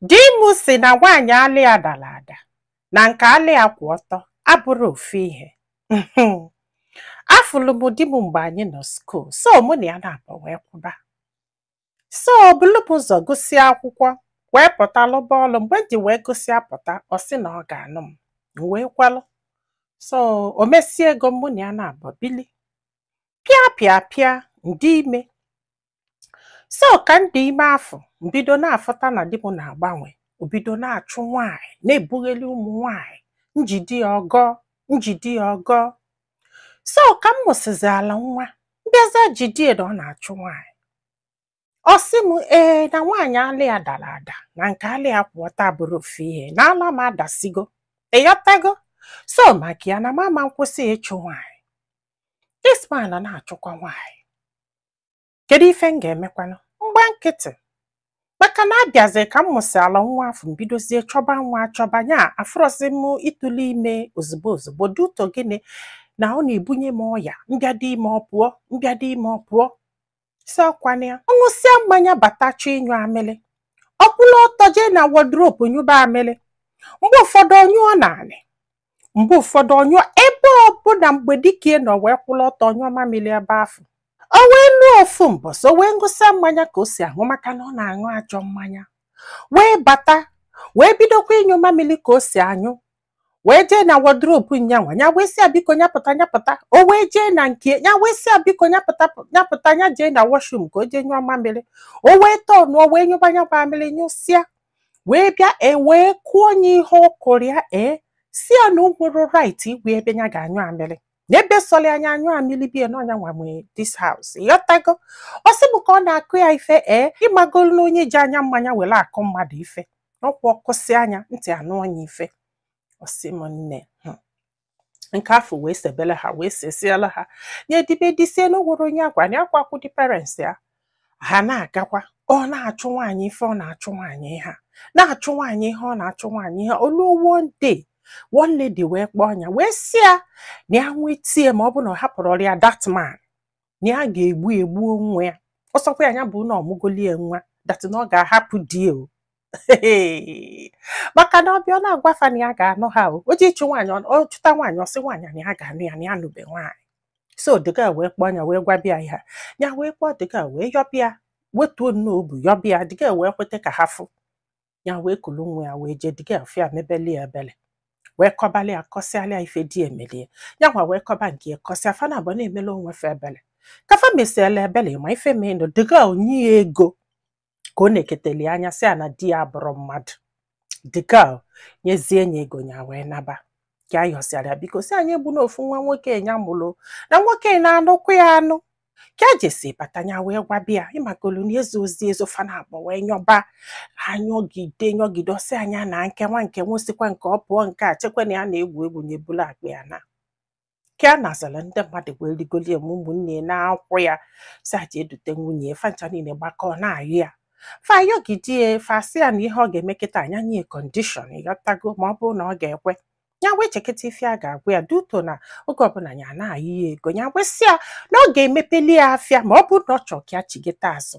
Di m sị na nwaanyị ala ya dara ada na nke ala ya kwụ ọtọ abụrọ ofu ihe. Afụlụ m di m mgbe anyị nọ skuul, so mụ na ya naabọ wee kwụba. So o bulu m ụzọ gụsịa akwụkwọ wee pụta lụba ọlụ mgbe m ji wee gụsịa pụta ọ sị na ọ ga-anụ m m wee kwelụ. So o mesie ego mụ na ya naabọ bili. Pịa pịa pịa m dị ime so ka m dị ime afụ m bido na-afụta na di m na-agbanwe o bido na-achụ nwaanyị na-ebugheli ụmụ nwaanyị m jide ya ọ gọọ m jide ya ọ gọọ so ka m mụsịziala nwa m bịazịa jide ya na ọ na-achụ nwaanyị ọ sị m ee na nwaanyị ala ya dara ada na nke ala ya kwụ ọtọ abụrọ ofu ihe na ala m adasigo ị ghọtago so maka ya na m ama akwụsị ịchụ nwaanyị this man na-achụkwa nwaanyị Kedu ife m ga-emekwanụ? M gba nkịtị. Maka na a bịazie ka m mụsịala nwa afụ m bidozie chọba nwa achọba nya afụrọzi m ịtụlụ ime ozugbo ozugbo due to gịnị na ọ na-ebunye m ọya m bịa dị ime ọ pụọ m bịa dị ime ọ pụọ sị ọ kwa na ya ọ ṅụsịa mmanya bata chọọ ịnyụ amịlị ọ kwụlụ ọtọ jee na wardrobe nyụba amịlị mgbe ụfọdụ ọ nyụọ n'anị mgbe ụfọdụ ọ nyụọ ebe ọbụla mgbe dike nọ wee kwụrụ ọtọ ọ nyụọ mamịrị ebe afụ o wee luo ofu mbọsị o wee ṅụsịa mmanya ka o si aṅụ maka na ọ na-aṅụ ajọ mmanya wee bata wee bidokwa ịnyụ mamịrị ka o si anyụ wee jee na wardrobe nya nwa nya wee sị ya biko nya pụta nya pụta o wee jee na nke ya wee sị ya biko nya pụta nya pụta nya jee na washroom ka o jee nyụọ mamịrị o wee tọnụọ wee nyụba nya mamịrị nyụsịa wee bịa e wee kụọ nya ihe ọ kụrụ ya ee sị ya na o nwerọ right ịgwa ya ebe nya ga-anyụ amịrị n'ebe sọrọ ya nya anyụọ amịrị bie na ọ nya nwa nwe this house ị ghọtago ọ sị m ka ọ na-akụ ya ife ee ị magolu na onye ji anya mmanya were akụ mmadụ ife ọ kwa ọ kụsịa nya ntị anụọ nya ife ọ sị m nne hmm nke afụ wee sebele ha wee sesiela ha nya dibe disie na o nwerọ onye ọ gwa nakwa akwụdị parents ya ha na-agakwa ọ na-achụ nwaanyị ife ọ na-achụ nwaanyị ihe na-achụ nwaanyị ihe ọ na-achụ nwaanyị ihe o luo one day one lady wee kpọọ nya wee sị ya na ya nweta ya ma ọ bụ na ọ hapụrọlụ ya that man na ya ga-egbu ya gbuo onwe ya ọ sọkwa ya bụ na ọ mụgoli ya nwa that na ọ ga-ahapụ di o maka na ọ bịa ọ na-agwa fa na ya ga-anụ ha o o ji ịchụ nwaanyị ọ- ọ chụta nwaanyị ọ sị nwaanyị na ya ga-anụ ya na ya anụbe nwaanyị so the girl wee kpọọ nya wee gwaba ya ihe a. ya wee kpọọ the girl wee yọba ya wetuo nnọọ obi yọba ya the girl wee kweta ka ha fụ ya wee kulu nwa ya wee jee the girl fụ ya mebeli ya ebele wee kọbali ya kọsịalị ya ife di ya meli ya ya nwa wee kọba nke ya kọsịa fa naabọ na-emela onwe fa ebele ka fa mesiela ebele ma ife menụ the girl nye ya ego ka ọ na-eketeli nya sị ya na di ya abụrọ mmadụ dịka nyezie nya ego nya wee naba ka a yọsịara biko si anyị egbu n'ofu nwa nwoke ya mụrụ na nwoke na-anụkwa ya anụ ka a jesi bata ya wee gwaba ya ịmakolu na ezo ozi ezo fa naabọ wee nyọba anyọgide nyọgide ọ sị nya na nkewa nke nwụsịkwa nke ọ pụọ nke a chekwa na ya na-egwu egwu nya ebulu akpa ya na ka a nazala ndị mmadụ wee rigoli ya ma ụmụnne na-akwụ ya sị ya jee dute nwunye ya fa ncha niile gbakọọ na-ayọ ya fa ayọgide ya fa sị ya na ihe ọ ga-eme kịta nya nye ya condition ị ghọtago ma ọ bụrụ na ọ ga-ekwe ya wee chekịta ife a ga-agwa ya due to na oge ọbụla ya na-ayọ ya ego ya wee sị ya na ọ ga-emepeli ya afịa ma ọ bụrụ na ọ chọọ ka ya chigheta azụ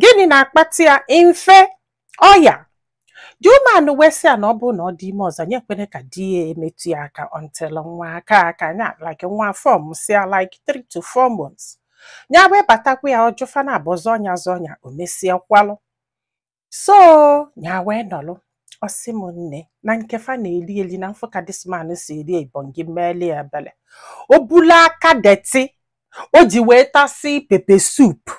gịnị na-akpata ya mfe ọya the woman wee sị ya na ọ bụrụ na ọ dị ime ọzọ nya ekwene ka di ya emetụ ya aka until nwa akaa aka nya like nwa form sịa like 3 to 4 months nya wee batakwa ya ọ jụ fa naabọ zọọ nya zọọ nya o mesịa kwelụ so nya wee nọlụ ọ sị m nne na nke fa na-eli eli na mfụ ka this man si eri ibongi meeli ya ebele o bulu aka dirty o ji wee tasịa pepper soup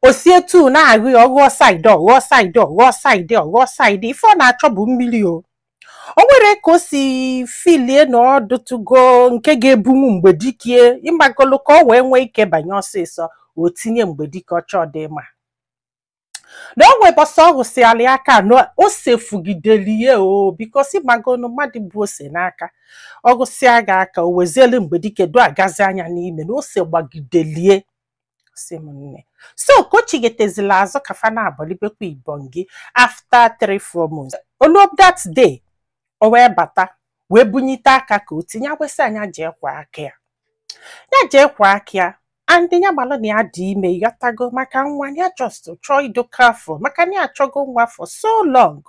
o si etu na-agụ ya ọghọọ saịdị ọghọọ saịdị ọghọọ saịdị ọghọọ saịdị ife ọ na-achọ bụ mmiri o o nwere ka o si filie na ọ dụtụgo nke ga-ebunwu mgbe dikie ịmagolu ka ọ wee nwee ike banye ọsịsọ o tinye mgbe dike ọchọ dị ma na o nwee bọsọ ọ hụsịala ya aka na o sefugideli ya o bikos ịmagonu mmadụ bụ ose n'aka ọ gụsịa gị aka o wezielu mgbe dike do agazi anya n'ime na ose gbagidelie sị m nne so ka o chighetezila azụ ka fa naabọ libekwa ibongi after three four months o luo that day o wee bata wee bunyite aka ka o tinye nya wee sị nya jee kwọọ aka ya ya jee kwọọ aka ya and ya malụ na ya dị ime ị ghọtago maka nwa ya just chọọ ịdụ careful maka na ya achọgo nwa for so long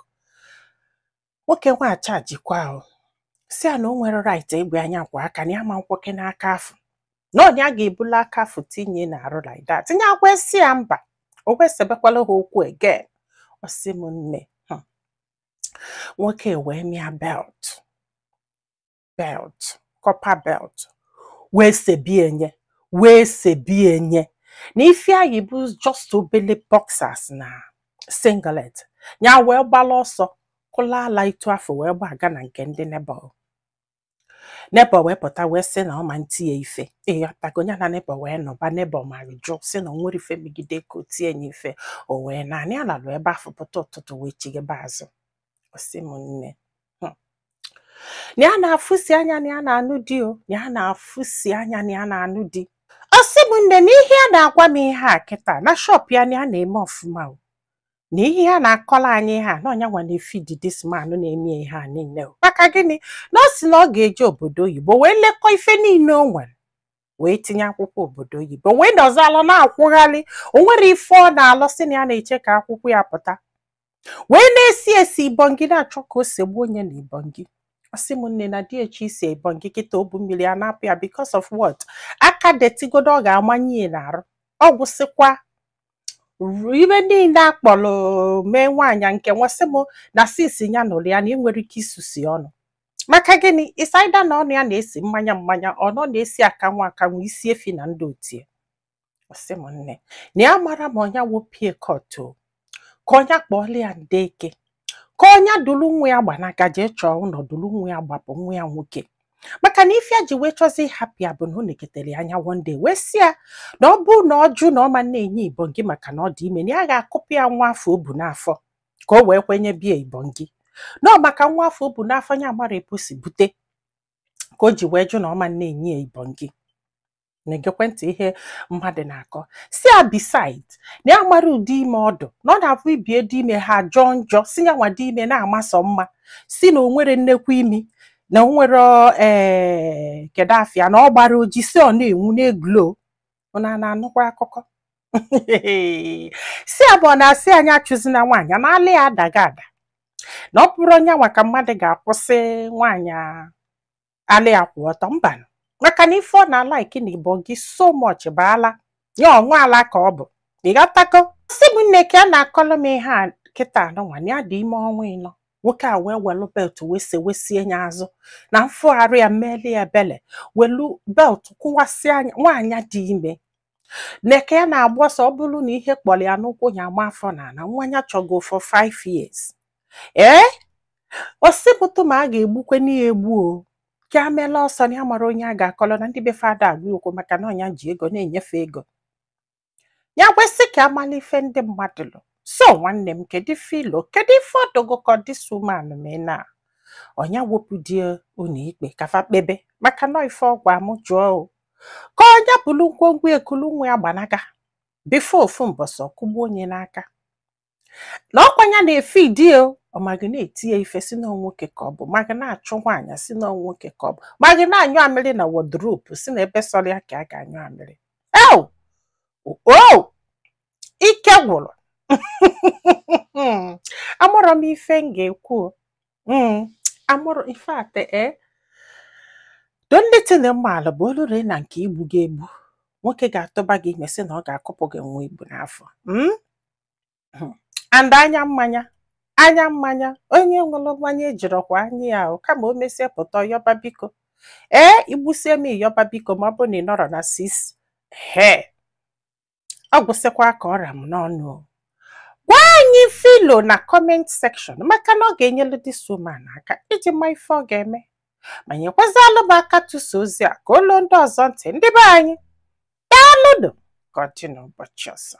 nwoke nwa achajikwa ahụ sị ya na o nwerọ right ịgwa nya kwọọ aka na ya ma nkwọkwanụ aka afụ na ọ nya ga-ebulu aka afụ tinye n'arụ like that nya wee sị ya mba o wee sebekwala ha okwu again ọ sị m nne hmm. nwoke wee mịa belt belt copper belt wee sebienye wee sebienye na ife nya yi bụ just obele boxers na singlet ya wee gbala ọsọ kulu ala etu afụ wee gbaga na nke ndị neighbour neighbour wee pụta wee sị na ọ ma nti ya ife ị ghọtago ya na neighbour wee nọba neighbour ma jụ sị na o nwere ife megide ka o tie ya ife o wee naa nya alalụ ebe afụ pụta ụtụtụ wee chighebe azụ ọ sị m nne hmm. na ya na-afụsi anya na ya na-anụ di o na ya na-afụsi anya na ya na-anụ di ọ sị m nne na ihe a na-agwa m ihe a kịta na shop ya na ya na-eme ọfụma o na ihe a na-akọla anyị ha na ọ nya nwa na-efidi this man na-eme ihe a niile o maka gịnị na ọ sị na ọ ga-eje obodo oyibo wee lekọọ ife niile o nwere wee tinye akwụkwọ obodo oyibo wee nọzi alụ na-akwụgharị o nwere ife ọ na-alụ sị na ya na-eche ka akwụkwọ ya pụta wee na-esi esi ibongi na-achọ ka o segbuo nya na ibongi ọ sị m nne na di ya chọ isi ibongi kịta obu mmiri a na-apụ ya because of what aka detigodo ọ ga-amanye ya n'arụ ọ gwụsịkwa ibe niile a kpọrọ mee nwaanyị nke nwa sị m na sisi ya nụrụ ya na ị nwere ike isusu ọnụ maka gịnị inside na ọnụ ya na-esi mmanya mmanya ọnụ na-esi akanwụ akanwụ isi efi na ndị otu ya ọ sị m nne na ya mara ma ọ nya wepụ ya kọtụ ka ọ nya kpọọla ya ndị eke ka ọ nya dulu nwa ya gbanaga jee chọọ ụnọ dulu nwa ya gbapụ nwa ya nwoke maka na ife ya ji wee chọzi ịhapụ ya bụ na ọ neketere ya anya one day wee sị ya na ọ bụ na ọ jụ na ọ ma na-enye ibongi maka na ọ dị ime na ya ga-akụpụ ya nwa afụ o bu n'afọ ka o wee kwe nyebe ya ibongi na ọ maka nwa afụ o bu n'afọ ya mara epu si bute ka o ji wee jụ na ọ ma na-enye ya ibongi na-egekwe ntị ihe mmadụ na-akọ sị ya beside na ya mara ụdị ime ọ dị na ọ na-abụ ibe ya dị ime ha jọọ njọ sị ya nwa dị ime na-amasọ mma sị na o nwere nnekwu imi na o nwere ee kedu afa ya na ọ gbara oji sị ọ na-enwu na-eglow ụnụ ana-anụkwa akụkọ sị ya bụ ọ na-asị anyị achụzi na nwaanyị a na ala ya adaga ada na ọ bụrọ nya nwa ka mmadụ ga-akwụsị nwaanyị a ala ya kwụ ọtọ mba maka na ife ọ na-alike na ibongi so much bụ ala ya ịṅụ ala ka ọ bụ ị ghọtago sị m nne ka a na-akọlụ m ihe a kịta anụnwa na ya dị ime ọnwa ịnọ nwoke a wee welu belt wee sewesie ya azụ na m fụgharị ya meeli ya ebele welu belt kụwasịa nya nwaanyị dị ime neke ya na-agba ọsọ ọ bụrụ na ihe kpọrọ ya n'ụkwụ ya ama afọ na ana nwa ya chọgo for five years ee ọ sị pụtụ ma a ga-egbukwe nya egbu o ka a meela ọsọ na ya mara onye a ga-akọlọ na ndị be fada agwa okwu maka na ọ nya ji ego na-enye fa ego ya kwesị ka amala ife ndị mmadụ lụ so nwanne m kedu ife i lo kedu ife ọ dị gị ka this woman mee na ọ nya wepụ di ya ụnọ ikpe ka fa kpebe maka na ọ ife ọ gwa m jụọ o ka ọ nya bulu ngwongwo ya kulu nwa ya gbanaga before ofu mbọsị ọ kụgbuo nya n'aka na ọkwa nya na-efe di o ọ maghị na-eti ya ife sị na ọ nwoke ka ọ bụ maghị na-achụ nwaanyị sị na ọ nwoke ka ọ bụ maghị na-anyụ amịrị na wardrobe sị na ebe sọlụ ya ka a ga-anyụ amịrị eo o ike gwụrụ amarọ m ife m ga-ekwu o. Mm, amarọ ife ate e do ndị tịnị mmaala bụ olu ree na nke igbu gị egbu nwoke ga-atụba gị ime sị na ọ ga-akụpụ gị nwa i bu n'afọ Mm? hmm. and anya mmanya anya mmanya onye ṅụrụ mmanya ejirọkwa anya ya ahụ kama o mesie pụta ọ yọba biko ee i gbusie m ị yọba biko ma ọ bụ na ị nọrọ na six ehee ọ gwụsịkwa ka ọ ra m n'ọnụ gwa anyị ife i lo na comment section maka na ọ ga-enyelu this woman aka iji ma ife ọ ga-eme ma nyekwazialụ m aka tụsa ozi a ka o luo ndị ọzọ ntị ndị be anyị daalụnụ ka ọ dị n'ụbọchị ọzọ